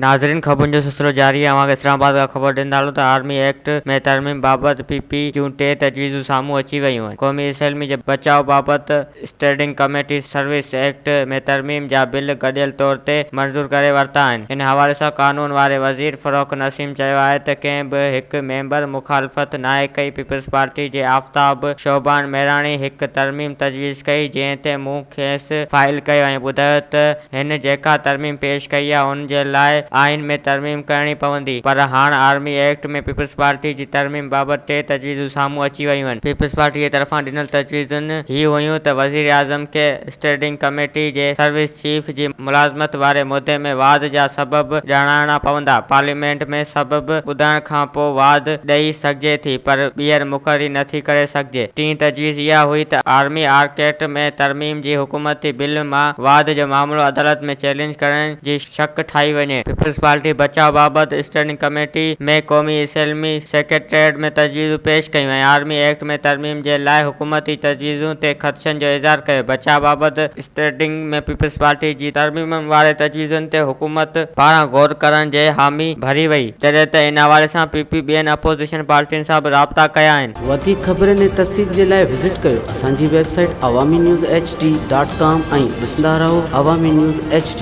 ناظرين خبرن جو سلسلو جاري آهي اوهان کي اسلام آباد کان خبر ڏيندا هلون ته آرمي ايڪٽ ۾ ترميم بابت پي پي جون ٽي تجويزون سامهون اچي ويون آهن قومي اسيلمي جي بچاء بابت اسٽينڊنگ ڪميٽيز سروس ايڪٽ ۾ ترميم جا بل گڏيل طور تي منظور ڪري ورتا آهن. ان حوالي سان قانون واري وزير فروخ نسيم چيو آهي ته ڪنهن به هڪ ميمبر مخالفت ناهي ڪئي، پيپلز پارٽي جي آفتاب شعبان ميراڻي هڪ ترميم تجويز ڪئي جنهن تي مون کيس فائل ڪيو ۽ ٻڌايو ته هن جيڪا ترميم پيش ڪئي آهي ان جي لاء آئين ۾ ترميم ڪرڻي پوندي پر هاڻ آرمي ايڪٽ ۾ پيپلزپارٽي جي ترميم بابت ٽي تجويزون سامهون اچي ويون. پيپلزپارٽي جي طرفان ڏنل تجويزون هي هيون ته وزيراعظم کي اسٽيرڊنگ ڪميٽي جي سروس چيف جي ملازمت واري مدي ۾ واڌ جا سبب ڄاڻائڻا پوندا، پارليامينٽ ۾ سبب ٻڌائڻ کان پوء واڌ ڏئي سگهجي ٿي پر ٻيهر مقرري نٿي ڪري سگهجي. ٽين تجويز اها هئي ته آرمي آرڪ ايڪٽ ۾ ترميم. جي حڪومتي بل مان واڌ جو معاملو عدالت ۾ چئلينج ڪرڻ جي شق ٺاهي وڃي. پيپلز پارٽي بچاء بابت اسٽينڊنگ ڪميٽي ۾ قومي اسيلمي سيڪريٽريٽ ۾ تجويزون پيش ڪيون ۽ آرمي ايڪٽ ۾ ترميم جي لاء حڪومتي تجويزون تي خدشن جو اظهار ڪيو. بچاء بابت اسٽينڊنگ ۾ پيپلز پارٽي جي ترميمن واري تجويزن تي حڪومت پاران غور ڪرڻ جي حامي ڀري وئي جڏهن ته ان حوالي سان پي پي ٻين اپوزيشن پارٽين سان به رابطا ڪيا آهن. وڌيڪ خبرن ۽ تفصيل جي لاء وزٽ ڪريو. اسان جي website Awami news H D dot com ۽ ڏسندا رهو عوامي نيوز ايڇ ڊي.